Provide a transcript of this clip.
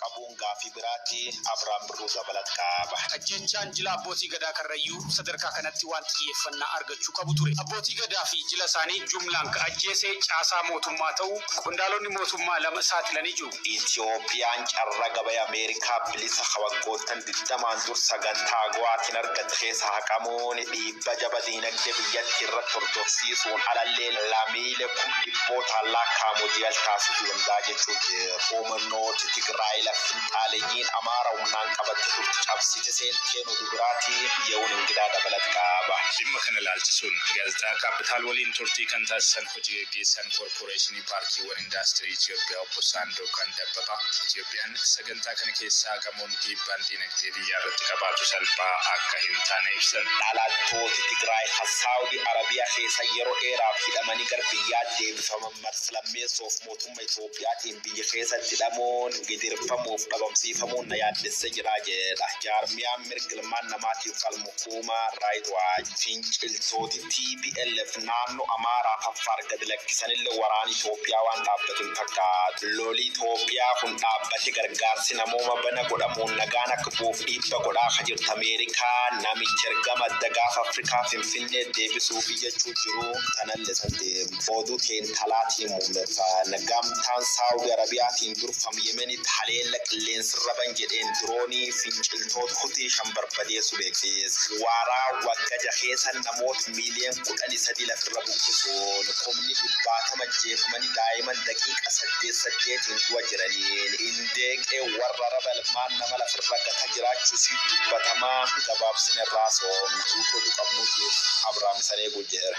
qabuun gaaffii biraati. Abrahaam Birruu dabalat qaba. Ajjeechaan jila Abbootii Gadaa Karrayyuu sadarkaa kanatti waan xiyyeeffannaa argachuu qabu ture. Abbootii Gadaa fi jila isaanii jumlaan ka ajjeese caasaa mootummaa ta'uu qondaalonni mootummaa lama saaxilanii jiru. Itiyoophiyaan carraa gabaya Ameerikaa bilisa ka waggoottan 20n dur sagantaa AGOAtiin argatte keessaa haqamuun dhiibbaa. Dhiibbaa jabaa diinagdee biyyattii irratti hordofsiisuun alallee lamiilee kum dhibbootaan laakkaa'amu DL taasisuu danda'a jechuun humnooti Tigraay lafa finxaaleyyiin Amaara humnaan qabatte turte cabsite seenteen oduu biraatiin Yehuun Ingidaa dabalata qaba. Dhimma kana ilaalchisuun Gaazexaa Kaappitaal waliin turtii kan taasisan hoji geggeessaan Koorporeeshinii Paarkiiwwan Indaastirii Itiyoophiyaa Obbo Saandookan Dabbabaa, Itiyoophiyaan sagantaa. Dantaa kana keessaa gamoon dhiibbaan diinagdee biyyaarratti qabaatu salphaa akka hin taane ibsan. Dhalattooti Tigraay ka Saudi Arabia keessa yeroo dheeraaf hidhamanii gara biyyaa deebifaman marsa lammeessoof mootumma Itoophiyaatiin biyya keessatti hidhamuun, gidirfamuuf dhabamsiifamuun na yaaddessee jira jedha jaarmiyaan mirga ilmaan namaatiif falmu Huumaan Raayit Waach, finciltooti tplf naannoo Amaaraaf Affaar gad lakkisanille waraani Itoophiyaa waan dhaabbatu hin fakkaatu. Loli Itoophiyaa kun dhaabbate gargaarsi namooma bana godhamuun nagaan akka bu'uuf dhiibba godhaa ka jirtu Ameerikaa, namichi ergama adda Gaafa Afrikaa Finfinneet deebisuufi jechuu jiru tanalle satti. Oduu teenna alaatiin Muummeffaan Gamtaan Saawudi Arabiyaatiin durfamu Yemen Israa'el haleella qilleensarra ban jedheen diroonii finciltoota Hutii 5 barbadeessu beeksiis. Waaraa wagga 6 keessa namoota miiliyoon 13 lafirra buqqisuun kumni dhibbaatama ajjeefamanii daa'iman daqiiqa saddeet saddeetiin du'a jiraniin Indeeqee warra raba ilmaan nama lafirra gata jiraachuu isii dubbatamaa gabaabsine irraa soomna. Guutuu oduu qabnuutiif Abrahaam Isan Eeguu Jeera.